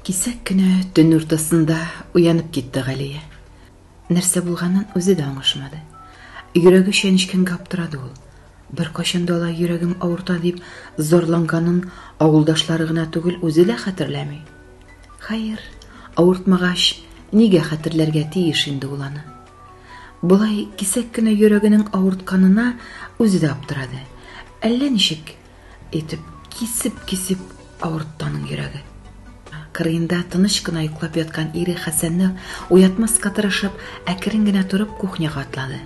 Кисәк кенә төн уртасында уянып китте Галия. Нәрсә булганын үзе дә аңышмады. Йөрәге чәнечкәнгә аптырады ул. Беркайчан да алай йөрәгем авырта дип зарланганын авылдашлары гына түгел, үзе дә хәтерләми. Хәер, авыртмагач, нигә хәтерләргә тиеш инде ул аны? Болай кисәк кенә йөрәгенең авыртканына үзе дә аптырады. Әллә ничек Итеп кисеп-кисеп авыртты аның йөрәге. Кырыенда тыныч кына йоклап яткан ире Хәсәнне уятмаска тырышып, әкрен генә торып, кухняга атлады.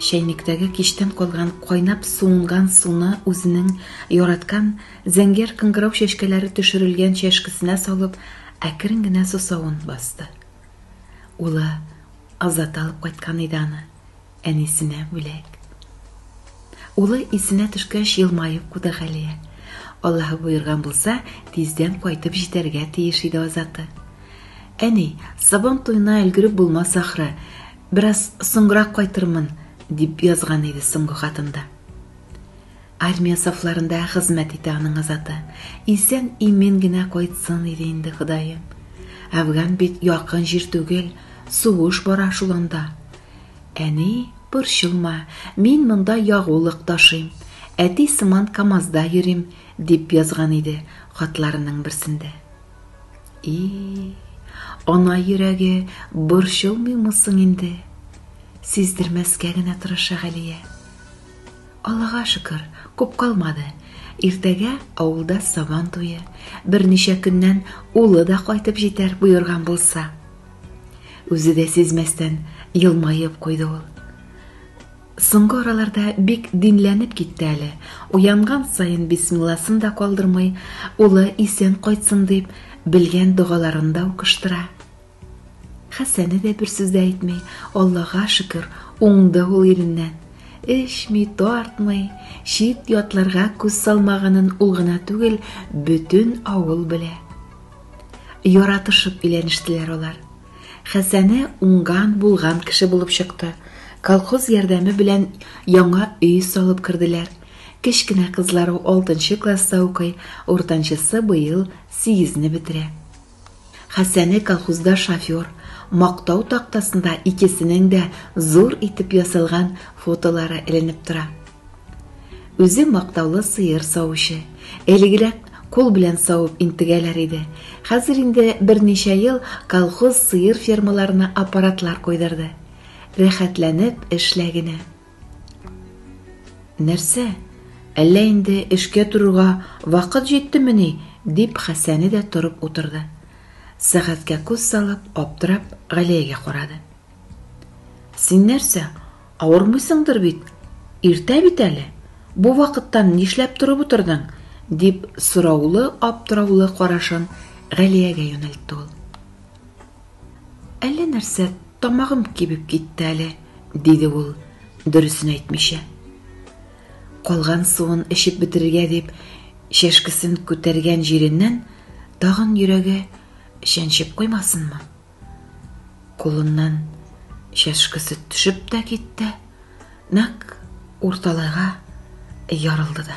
Чәйнектәге кичтән калган кайнап суынган суны үзенең яраткан зәңгәр кыңгырау чәчкәләре төшерелгән чәшкесенә салып, әкрен генә сусавын басты. Улы Азат алып кайткан иде аны. әнисенә бүләк. Улы исенә төшкәч елмаеп куды Галия. Аллаһы боерган булса, тиздән кайтып җитәргә тиеш иде Азаты. Әни, Сабан туена өлгереп булмас ахры. Бераз соңрак кайтырмын, дип язган иде соңгы хатында. Армия сафларында хезмәт итә аның азаты. Исән имин генә кайтсын иде инде Ходаем. Әфган бит якын җир түгел, сугыш бара шул анда. Әни, борчылма, мин монда ягулык ташыйм, әти сыман КАМАЗда йөрим, дип язган иде хатларының берсендә. И, ана йөрәге борчылмыймы соң инде? Сиздермәскә генә тырыша Галия. Аллага шөкер, күп калмады. Иртәгә авылда Сабан туе, берничә көннән улы да кайтып җитәр, боерган булса. Үзе дә сизмәстән елмаеп куйды ул. Соңгы араларда бик динләнеп китте әле, уянган саен бисмилласын да калдырмый, улы исән кайтсын дип, белгән догаларын да укыштыра. Хәсәне дә бер сүз дә әйтми, Аллага шөкер, уңды ул иреннән. Эчми, тартмый, чит ятларга күз салмаганын ул гына түгел, бөтен авыл белә. Яратышып иләнештеләр алар. Хәсәне уңган, булган кеше булып чыкты. Колхоз ярдәме белән яңа өй салып керделәр. Кечкенә кызлары 6 класста укый, уртанчысы быел 8 не бетерә. Хәсәне колхозда шофер, мактау тактасында икесенең дә зур итеп ясалган фотолары эленеп тора. Үзе мактаулы сыер савучы. Элегрәк кул белән савып интегәләр иде. Хәзер инде берничә ел колхоз сыер фермаларына аппаратлар куйдырды. Рәхәтләнеп эшлә генә. Нәрсә? Әллә инде эшкә торырга вакыт җиттемени? дип Хәсәне дә торып утырды. Сәгатькә күз салып, аптырап, Галиягә карады. Син нәрсә, авырмыйсыңдыр бит? Иртә бит әле. Бу вакыттан нишләп торып утырдың? дип сораулы-аптыраулы карашын Галиягә юнәлтте ул. Әллә нәрсә тамагым кибеп китте әле, диде ул, дөресен әйтмичә. Калган суын эчеп бетерергә дип, чәшкесен күтәргән җиреннән тагын йөрәге чәнчеп куймасынмы? Кулыннан чәшкесе төшеп тә китте, нәк урталайга ярылды да.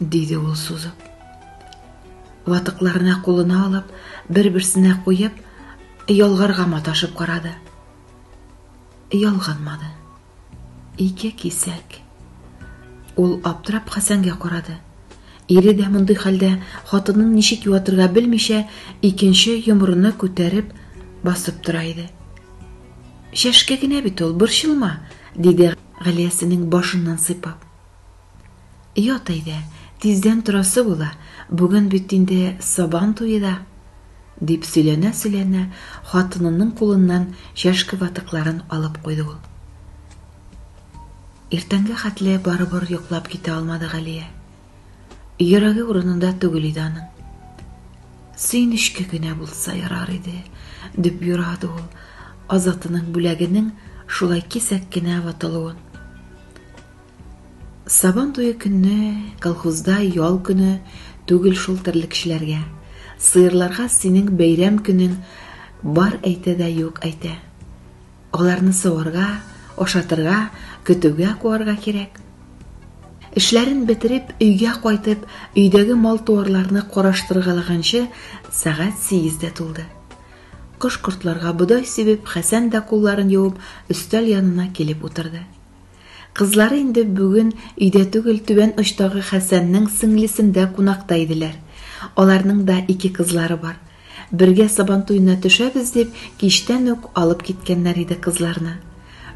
Диде ул сузып. Ватыкларына кулына алып, бер-берсенә куеп, ялгарга маташып карады. Ялганмады. Ике кисәк. Ул аптырап Хәсәнгә карады. Ире дә мондый хәлдә хатынын ничек юатырга белмичә, икенче йомырыны күтәреп басып тора иде. Шәшкә генә бит ул, борчылма, диде Галиясенең башыннан сыйпап. Ят әйдә, тиздән торасы була, бүген бит инде Сабан туе да, дип сөйләнә-сөйләнә, хатынының кулыннан чәшке ватыкларын алып куйды ул. Иртәнгә хәтле барыбер йоклап китә алмады Галия. Йөрәге урынында түгел иде аның. Сөенечкә генә булса ярар иде, дип юрады ул Азатының бүләгенең шулай кисәк кенә ватылуын. Сабан туе көнне колхозда ял көне түгел шул терлекчеләргә. Сыерларга синең бәйрәм көнең бар әйтә дә юк әйтә. Аларны саварга, ашатырга, көтүгә куарга кирәк. Эшләрен бетереп, өйгә кайтып, өйдәге мал-туарларны караштыргалаганчы сәгать 8-дә тулды. Кош-кортларга бодай сибеп, Хәсән дә кулларын юып, өстәл янына килеп утырды. Кызлары инде бүген өйдә түгел, түбән очтагы Хәсәннең сеңлесендә кунакта иделәр. Аларның да ике кызлары бар. Бергә Сабантуена төшәбез дип, кичтән үк алып киткәннәр иде кызларны.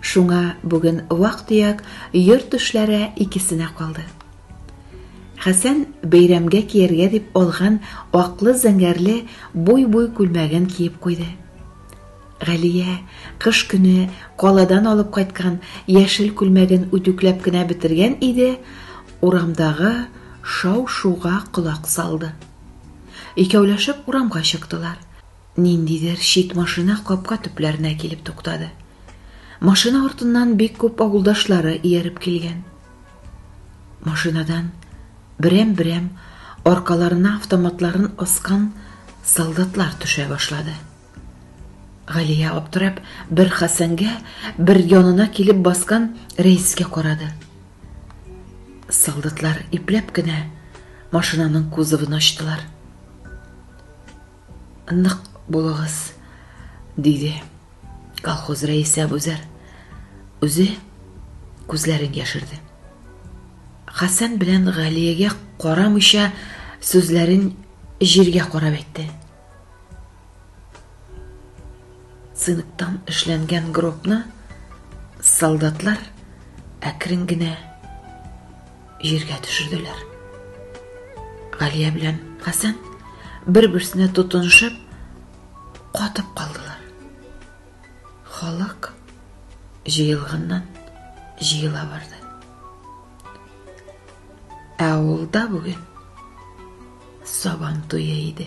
Шуңа бүген вак-төяк йорт эшләре икесенә калды. Хәсән бәйрәмгә кияргә дип алган аклы-зәңгәрле буй-буй күлмәген киеп куйды. Галия кыш көне каладан алып кайткан яшел күлмәген үтүкләп кенә бетергән иде, урамдагы шау-шуга колак салды. Икәүләшеп урамга чыктылар. Ниндидер чит машина капка төпләренә килеп туктады. Машина артыннан бик күп авылдашлары ияреп килгән. Машинадан берәм-берәм аркаларына автоматларын аскан солдатлар төшә башлады. Галия аптырап, бер Хәсәнгә, бер янына килеп баскан Рәискә карады. Солдатлар ипләп кенә машинаның кузовын ачтылар. Нык булыгыз, диде колхоз рәисе Әбүзәр. Үзе күзләрен яшерде. Хәсән белән Галиягә карамыйча сүзләрен җиргә карап әйтте. Цинктан эшләнгән гробны солдатлар әкрен генә җиргә төшерделәр. Галия белән Хәсән бер-берсенә тотынышып катып калдылар. Халык җыелганнан җыела барды. Ә авылда бүген сабан туе иде.